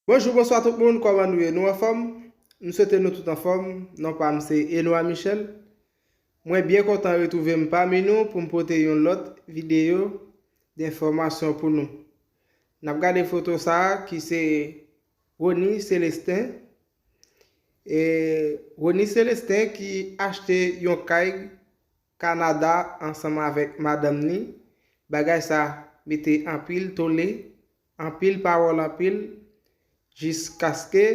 Bonjou bonswa tout moun kòman nou ye nou anfòm m swete nou tout anfòm non pam se Enoy Michel mwen byen kontan retrouve m pami nou poum pote yon lòt videyo denfòmasyon pou nou nap gade foto sa ki se Rony Celestin e Rony Celestin ki achte yon kay Kanada ansanm avèk madanm ni, bagay sa mete anpil tole, anpil pawòl anpil, jiskaske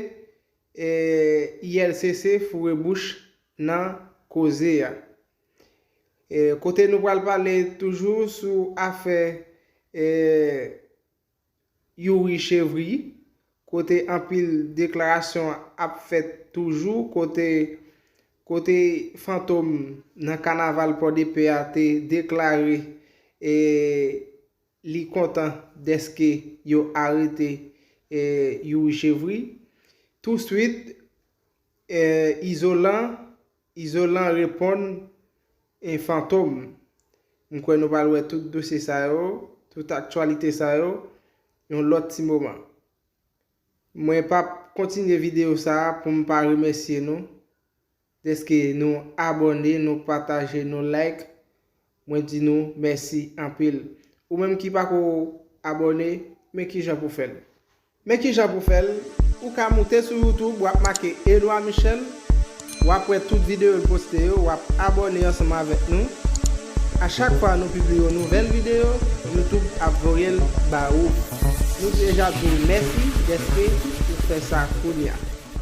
ILCC foure bouch nan koze a. Kote nou pral pale toujou sou afè Youri Chevry, kote anpil deklarasyon ap fèt toujou, kote kote Fantom nan kanaval Pòdepè a te deklare li kontan dèske yo arete Youri Chevry. Touswit, Izolan, Izolan reponn. E Fantom. M kwè nou pral wè tout dosye sa yo, tout aktyalite sa yo, yon lòt ti moman. Mwen p ap kontinye videyo sa pou m pa remèsye nou dèske nou abòne, nou pataje, nou like. Mwen di nou mèsi anpil. Ou menm ki pako abòne, men kijan pou fè l. Men kijan pou fèl, ou ka moute sou youtube wap make Édouard Michel wap wè tout video l poste yo wap abòne ansanm avèk nou a chak fwa nou pibliye yon nouvèl video youtube ap voyel ba ou nou deja di w mèsi dèske ou fè sa kounya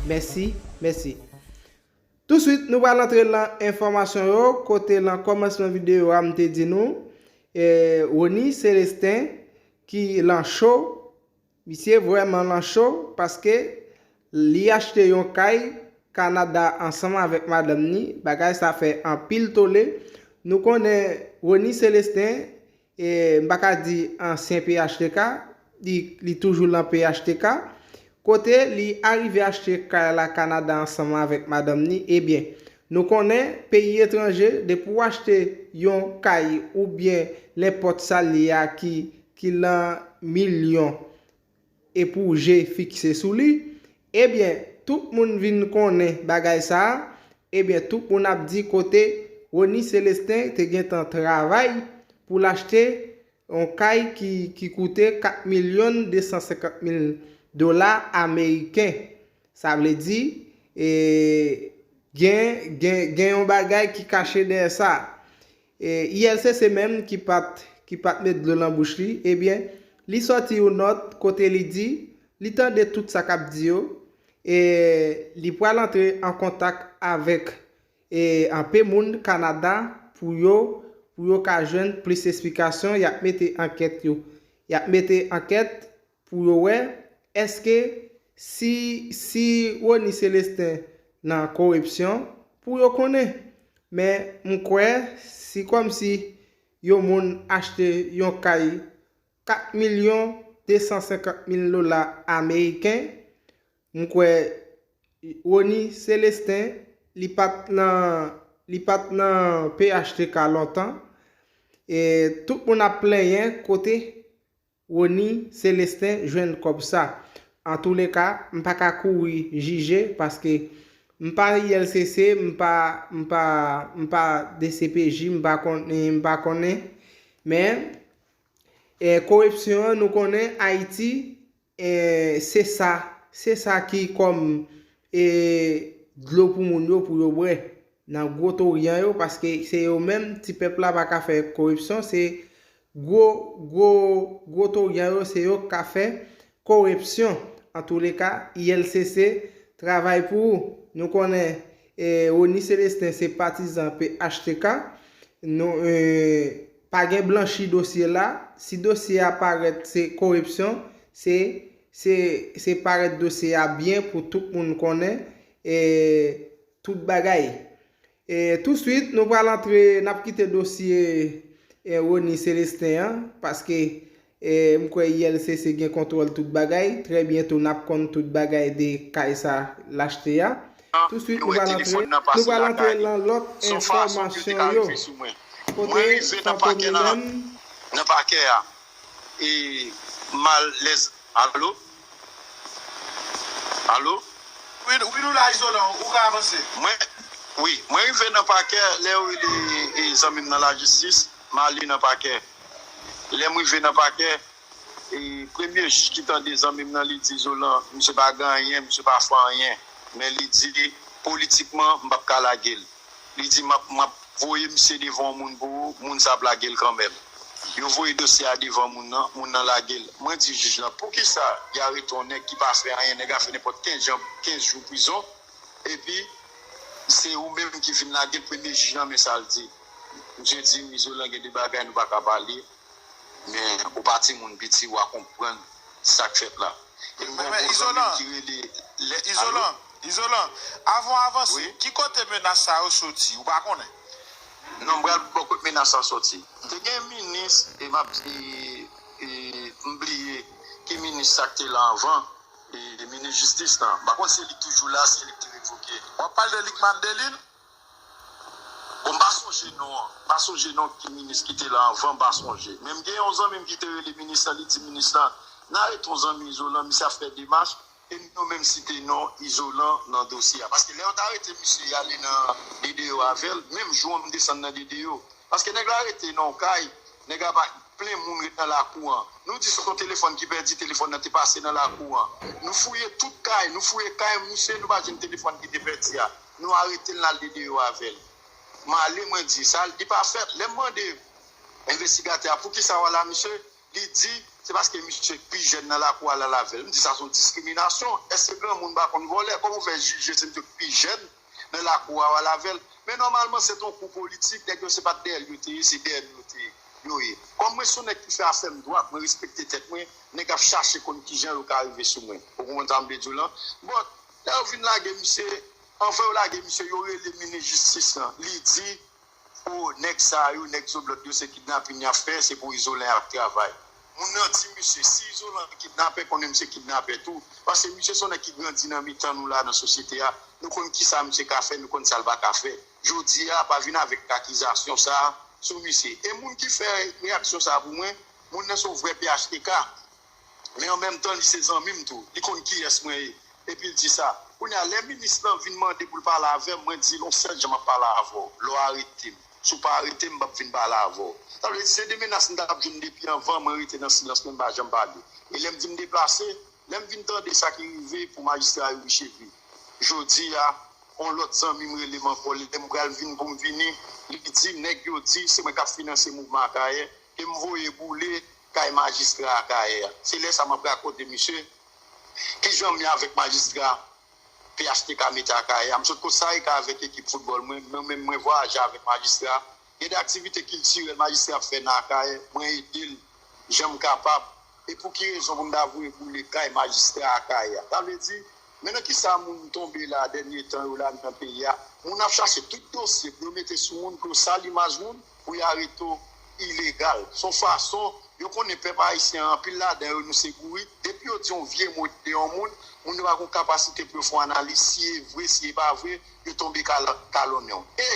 mèsi mèsi touswit nou pral antre lan enfòmasyon yo kote lan kòmansman video a m te di nou Rony Celestin ki lan cho. Misye vrèman lan cho paske li achte yon kay Canada ansanm avèk madanm ni, bagay sa fè anpil tole. Nou konnen Rony Celestin, m pa ka di ansyen phtk, li toujou lan phtk, kote li arive achte kay la Canada ansanm avèk madanm ni, ebyen nou konnen peyi etranje depi w achte yon kay oubyen nenpòt sa l ye a ki ki lan milyon e pou je fikse sou li, ebyen tout moun vin konnen bagay sa, ebyen tout moun ap di kote Rony Celestin te gentan travay pou l achte yon kay ki koute 4 milyon 250 mil dola ameriken. Sa vle di, gen yon bagay ki kache dèyè sa. E ILCC menm ki pat ki pat met dlo lan bouch li, ebyen li sòti yon nòt kote li di li tande tout sa kap di yo e li pral antre an kontak avèk e anpe moun Kanada pou yo pou yo ka jwenn plis esplikasyon yap mete ankèt yo yap mete ankèt Pou yo wè eske si si Rony Celestin nan koripsyon pou yo konnen. Men m kwè si kòm si yon moun achte yon kay 4 milyon 250 mil dola ameriken m kwè Rony Celestin li pat nan li pat nan phtk lontan e tout moun ap plenyen kote Rony Celestin jwenn kòb sa. Antoulèka m pa ka kouri jije paske m pa ILCC m pa m pa m pa dcpj m pa konnen m pa konnen men koripsyon an nou konnen Ayiti se sa se sa ki kòm dlo pou moun yo pou yo bwè nan gwo toryan yo paske se yo menm ti pèp la pa ka fè koripsyon se Gwo, gwo, gwo toryan yo se yo k ka fè korepsyon. Antouleka, ILCC travay pou ou. Nou konnen Rony Celestin se patizan phtk. Nou pa gen blanchi dosye la. Si dosye a parèt se korepsyon, se se se parèt dosye a byen pou tout moun konnen tout bagay. E touswit nou pral antre n ap kite dosye Rony Celestin an paske m kwè ULCC gen kontwòl tout bagay, trè byento n ap konn tout bagay de kay sa l achte a. Touswit nou pral antre nou pral antre lan lòt enfòmasyon yo kote Fantom li menm. e mal lèz alo alo. Wi wi nou la izolan ou ka avanse. Mwen wi mwen rive nan pakè lè yo rele e zanmim nan lajistis male nan pakè lèm rive nan pakè e premye jij ki tande zanmim nan li di izolan misye pa gen anyen misye pa fè anyen men li di politikman mpap ka lagel Li di map map voye misye devan yon moun pou ou, moun sa ap lagel kanmenm. Yo voye dosye a devan moun nan, moun nan lagel. Mwen di jij lan poukisa li arete yon nèg ki pa fè anyen, nèg a fè nenpòt 15 jan 15 jou prizon epi se ou menm ki vin lagel premye jij lan men sal di. Misye dim izolan gen de bagay nou paka pale. Men ou pa timoun piti wa konprann sak fèt la. Em gen yon bon zanmim ki rele allo. Izolan, avan w avanse, ki kote menas sa yo soti? Ou pa konnen? Non, m pral ba w kote menas sa soti. Te gen minis, e m ap di, e m bliye ki minis sa k te la anvan, minis jistis lan. M pa konn si se li k toujou la, se li k te revoke. W ap pale de Lickman Delil? Bon m pa sonje non an. M pa sonje non ki minis ki te la anvan m pa sonje. Men m gen yon zanmi m ki te rele minis lan li di minis lan nan re ton zanmi Izolan misye ap fè demach e m yo menm site non Izolan nan dosye a paske lè yo ta rete misye y ale nan DDO avè l menm jou an m desann nan DDO paske nèg la rete nan yon kay nèg la pa plen moun ret nan lakou an nou di se yon telefòn ki pèdi telefòn nan te pase nan lakou an nou fouye tout kay nou fouye kay misye nou pa jwenn telefòn ki te pèdi a. Nou aretel nal dedeyo avel. Male mwen di sa li pa fèt lèm mande envestigatè a poukisa wal a misye li di se paske misye pi jèn nan lakou al avèl m di sa son diskriminasyon eske granmoun pa konn vòlè kòman ou fè jije se misye ki pi jèn nan lakou a wal avèl men nòmalman se ton kou politik nèg yo se pat dèyè l yo te ye se dèyè nou yo te ye yo ye kòm mwen son nèg ki fè afèm dwat mwen respekte tèt mwen nèg ap chache konn kijan yo ka rive sou mwen ou konprann sa m vle di w lan bon Lè yo fin lage misye, anvan yo lage misye yo rele minis jistis lan, li di oh nèg sa yo, nèg zoblòd yo se kidnapin yap fè, se pou Izolan yap travay. Moun nan di misye, si Izolan kidnapè konnen misye kidnapè tou, paske misye se yon nèg ki grandi nan mitan nou la nan sosyete a, nou konn kisa misye ka fè, nou konn sa l pa ka fè. Jodi a pa vin avèk akizasyon sa sou misye. E moun ki fè reyaksyon sa pou mwen, moun nan se yon vrè phtk. men an menm tan li se zanmi m tou, li konn kiyès mwen ye epi l di sa. Kounye a, lè minis lan vin mande pou l pale avè m, mwen di l yon sèl jan m ap pale avè w, lè w arete m. Si w pa arete m, m pap vin pale avè w. Sa vle di se de menas m t ap jwenn depi anvan, mwen rete nan silans mwen, m pa janm pale. E lè m di m deplase, lè m vin tande sa ki rive pou majistra Youri Chevry jodi a, yon lòt zanmi m rele m ankò, lè m pral vin pou m vini, li di nèg yo di se mwen k ap finanse mouvman Akayè, ke m voye boule kay majistra akayè a se lè sa map rakonte misye kijanm ye avèk majistra phtk mete akayè a m sot kot sarika avèk ekip foutbòl mwen mwen menm mwen vwayaje avèk majistra gen de aktivite kiltirèl majistra ap fè nan akayè mwen edel janm kapab e pouki rezon pou m ta voye boule kay majistra akayè a sa vle di Men nan kisa moun tonbe la dènye tan yo la nan peyi a, moun ap chache tout dosye pou yo mete sou moun pou yo sal imaj moun pou yo arete w ilegal. Se yon fason yo konnen pèp ayisyen an anpil ladan yo nou se bourik, depi yo di yon vye mo de yon moun, moun yo pa gen yon kapasite pou yo fè yon analiz si e vre si e pa vre, yo tonbe kalonnen w. E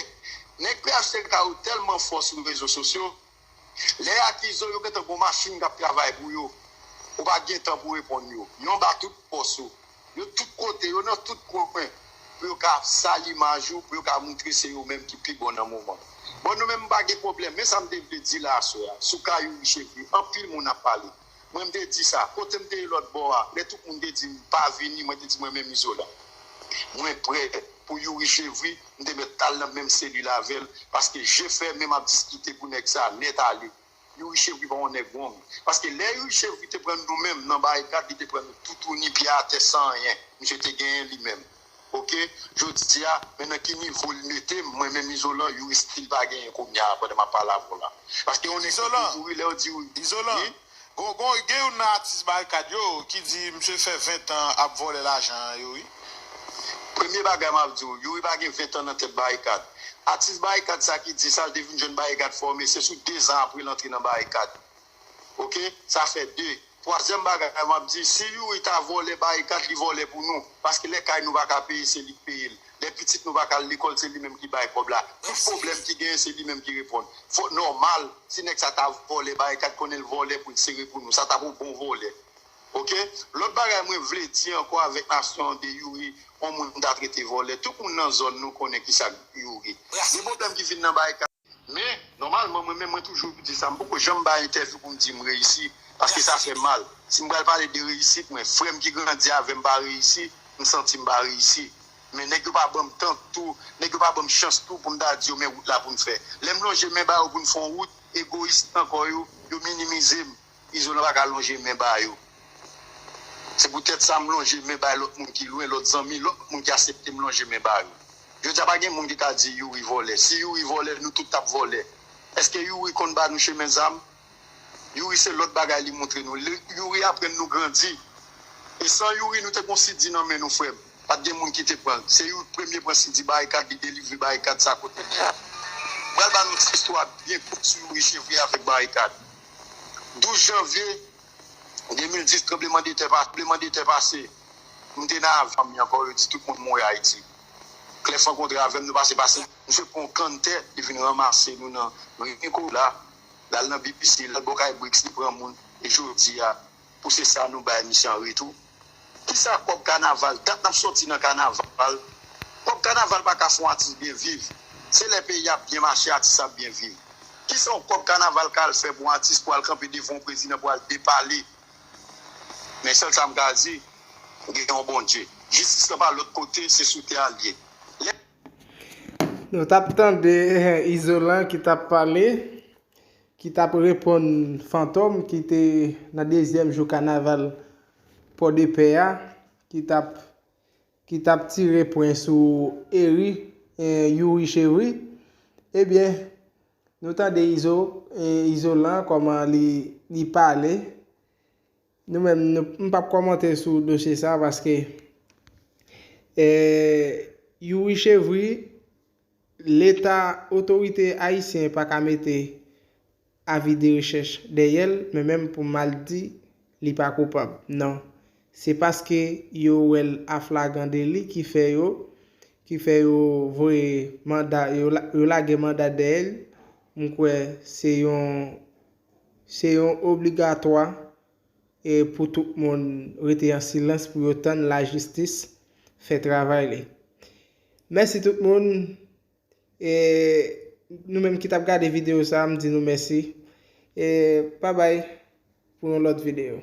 Nèg phtk yo tèlman fò sou rezo sosyo, Lè y akize w, yo gentan gen yon machin k ap travay pou yo. Ou pa gen tan pou w reponn yo. Yo anba tout pòs ou. Yo tout kote, yo nan tout kwen pou yo ka sal imaj ou, pou yo ka montre se yo menm ki pi bon nan moman. Bon, nou menm m pa gen pwoblèm. Men sa m te vle di la aswè a sou ka Youri Chevrier, anpil moun ap pale. Mwen m te di sa. Kote m te ye lòt bò a, lè tout moun te di m pa vini, mwen te di mwen menm Izolan. Mwen prè pou Youri Chevry, m te mèt al nan menm selil avè l, paske je fèmen m ap diskite pou nèg sa nèt ale. Youri Chevry pa yon nèg wong. Paske lè Youri Chevry te pran nou menm nan barikad, li te pran nou toutouni, pye atè san anyen. Misye te genyen li menm. Ok jodia men nan ki nivo li metem mwen menm izolan you estil pa genyen kounya pandan map pale avèw la paske yon nèg ki te mouri lèw di wi izolan gon gen youn nan atis barikad yo ki di misye fè 20 tan ap vòlè lajan yo wi. Premye bagay map diw youri pa gen 20 tan nan tèt barikad atis barikad sa ki di sa li te vin jwenn barikad fòme se sou 2 zan aprel antre nan barikad. ok sa fè 2 twazyèm bagay map di si youri ta vòlè barikad li vòlè pou nou paske lè kay nou paka peye se li k peyel lè pitit nou paka al lekòl se li menm ki bay kòb la tout problèm ki genyen se li menm ki reponn fò nòmal si nèg sa ta vòlè barikad konnen l vòlè pou l sere pou nou sa tap yon bon vòlè ok lòt bagay mwen vle di ankò avèk nasyon an de youri yon moun ta trete vòlè tout moun nan zòn nou konnen kisa youri gen problèm ki vin nan barikad. Men, nòmalman mwen menm mwen toujou di sa, m poko janm bay entèvyou pou m di m reyisi, paske sa fè mal. Si m pral pale de reyisit mwen, frè m ki grandi avè m pa reyisi, m santi m pa reyisi. Men nèg yo pa ban m tan tou, nèg yo pa ban m chans tou pou m ta di yo men wout la pou n fè. Lè m lonje men ba yo pou n fè yon wout, egoyis nan kò yo, yo minimize m. Izo nan paka lonje men ba yo. Se pou tèt sa m lonje men bay lòt moun ki lwen, lòt zanmi, lòt moun ki asepte m lonje men ba yo. Jodi a pa gen moun ki ka di Youri vòlè. Si Youri vòlè, nou tout t ap vòlè. Eske Youri konn ba nou chemen zam? Youri se lòt bagay li montre nou. Youri aprann nou grandi. E san Youri nou te gon CD nan men nou frè m. Pa t gen moun ki te pran l. Se Youri k premye pran CD Barikad li delivre Barikad sa kote l ye a. M pral ba nou ti istwa byen kout sou Youri Chevrier avèk Barikad. 12 janvye 2010 tranbleman de tè pase tranbleman de tè pase m te nan avyonm mi ankò yo di tout moun mouri ayiti clef rankontre avèm nou pase pase misye pran yon kann tè li vin ranmase nou nan ri nikola lal nan bbc lal bò kay bricks li pran moun e jodia pou se sa nou bay misye an retou? Kisa kòb kanaval, dat nap sòti nan kanaval, kòb kanaval pa ka fè yon atis byen viv, se lè peyi ap byen mache atis la ap byen viv. Kisa yon kòb kanaval ka al fè pou yon atis pou al kanpe devan yon prezidan pou al depale? Men sèl sa m ka di, gen yon Bondye. Jistis lan pa lòt kote, se sou tè a l ye. Lè. Nou tap tande Izolan ki tap pale. ki t ap reponn Fantom ki te nan dezyèm jou kanaval Pòdepè a ki t ap ki t ap tire pwen sou Ery Youri Chevry ebyen nou tande Izo Izolan kòman li li pale nou menm m p ap kòmante sou dosye sa paske Youri Chevry Leta, otorite ayisyen pa ka mete avi de rechèch dèyè l men menm pou mal di li pa koupab nan. Se paske yo wè l aflagan deli ki fè yo ki fè yo voye manda yo yo lage manda dèyè l m kwè se yon se yon obligatwa e pou tout moun rete an silans pou yo tann lajistis fè travay li. Mèsi tout moun e nou menm ki tap gade video sa m di nou mèsi e pa bay pou yon lòt video.